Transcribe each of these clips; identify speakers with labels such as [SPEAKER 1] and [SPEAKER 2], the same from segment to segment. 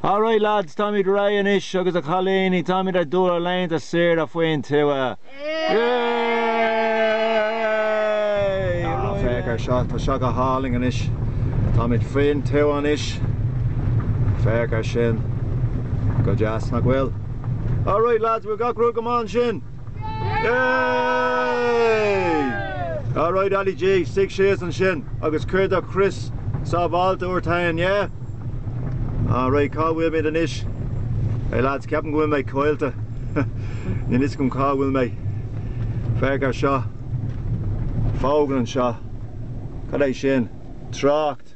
[SPEAKER 1] Alright lads, táimid réidh anois agus a chailíní, táimid ag dul ar laethanta saoire faoin tuath! Yay! Féach ar seo, tá seo go hálainn anois, táimid faoin tuath anois, féach ar sin, go deas nach bhfuil? Alright lads, bhfuil gach rud go maith ansin? Yay! Alright Ali G, suigh síos ansin agus cuir do chrios sábháilte ort féin, yeah? Alright, cá bhfuilimid anois? Hey lads, ceapaim go bhfuil mé caillte. Níl 'fhios agam cá bhfuil mé. Féach ar seo. Fógra anseo. Cad é sin? Trácht.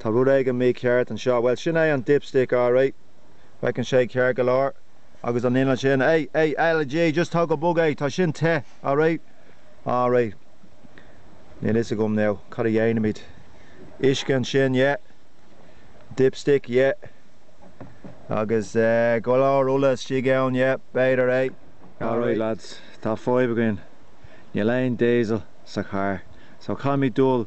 [SPEAKER 1] Tá rud éigin mícheart anseo. Bhuel, sin é an dipstick alright. Féachann sé ceart go leor. Agus an inneall ansin, hey, hey, Ali G, just tóg go bog é, tá sin te, alright? Alright. Níl 'fhios agam now, cad a dhéanfaimid? Uisce ansin, yeah. Dipstick, yeah. Agus eh, go leor ola istigh ann, yeah, b'fhéidir é. Alright lads, tá fadhb againn. Níl aon diesel sa charr. So, caithfimid dul.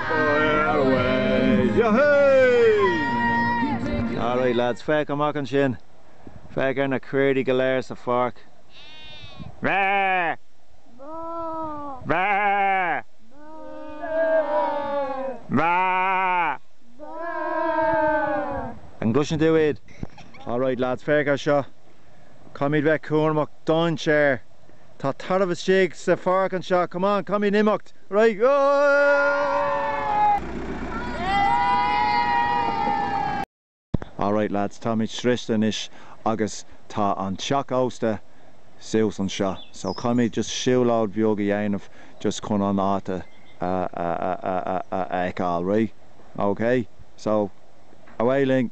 [SPEAKER 1] Alright lads, féach amach ansin. Féach ar na caoirigh go léir sa pháirc. An gcloiseann tú iad? Alright lads, féach ar seo. Caithfimid bheith cúramach, dainséar! Tá tarbh istigh sa pháirc anseo, come on, caithfimid imeacht, ar aghaidh! All right lads, táimid sroichte anois agus tá an teach ósta suas anseo, so caithfimid just siúlóid bheag a dhéanamh just chun an áit a fheiceáil, right? Okay? So, ar aghaidh linn!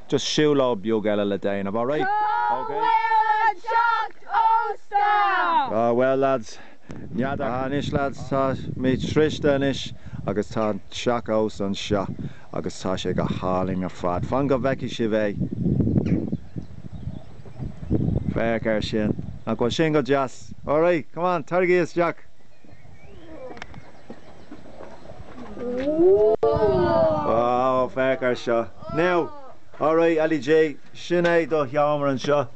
[SPEAKER 1] just siúlóid beag eile le déanamh, alright? Cá OK. bhfuil an teach ósta? Ah, bhuel, lads. N'fheadar. Ah, anois, lads, táimid sroichte anois agus tá an teach ósta anseo agus tá sé go hálainn ar fad. Fan go bhfeicfidh sibh é. Féach ar sin. Nach bhfuil sin go deas? Alright, come on, taraigí isteach! Wow, féach ar seo. Now, alright Ali G, sin é do sheomra anseo.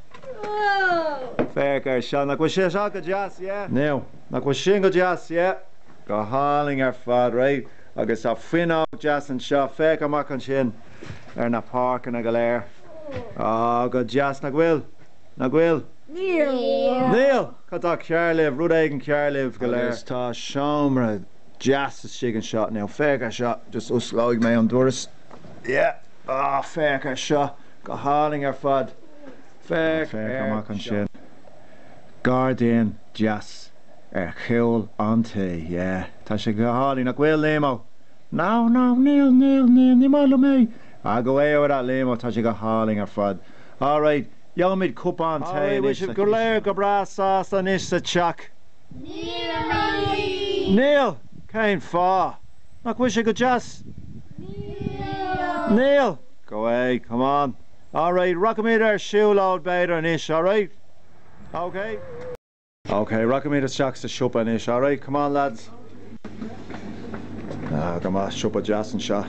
[SPEAKER 1] Féach ar seo, nach bhfuil sé seo go deas, yeah? Now, nach bhfuil sin go deas, yeah? Go hálainn ar fad, right? Agus tá fuinneog deas anseo, féach amach ansin ar na páirceanna go léir. Á, go deas nach bhfuil? Ná Gaeil? Níl. Níl! Cad tá cearr libh? Rud éigin cearr libh go léir? Agus tá seomra deas istigh anseo. Now féach ar seo. Just osclóidh mé an doras. Yeah! Ah, féach ar seo. Go hálainn ar fad. Féach ar seo. Féach amach ansin. Gairdín deas ar chúl an tí. Yeah! Tá sé go hálainn. Nach bhfuil, Liam-ó? No, no, níl, níl, níl, ní maith liom é. Ah, go bhféadhfadh a' Liam-ó. Tá sé go hálainn ar fad. All right, gheobhaimid cupán tae anois, bhfuil sibh go léir go breá sásta anois sa teach? Níl, a Mhamaí! Níl? Cén fáth? Nach bhfuil sé go deas? Níl! Níl? OK, come on. All right, rachaimid ar siúlóid b'fhéidir anois, all right? Okay? OK, rachaimid isteach sa siopa anois. Alright, come on lads. Ah, go maith, siopa deas anseo.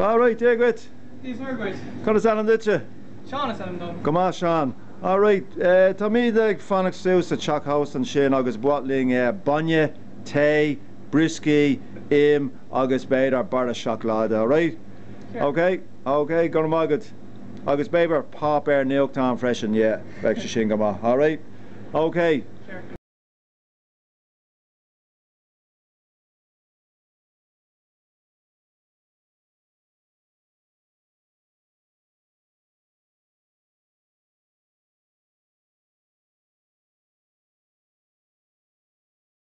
[SPEAKER 1] Alright, Dia dhuit! Dia is Muire dhuit! Cad is ainm duitse? Seán is ainm dom. Go maith Seán. Alright, táimid ag fanacht suas sa teach thuas ansin agus ba mhaith linn bainne, tae, brioscaí, im agus b'fhéidir barra seacláide, alright? Sure. OK, OK, go raibh maith agat. Agus b'fhéidir páipéar nuachtáin freisin, yeah. Beidh sé sin go maith. All right. Okay.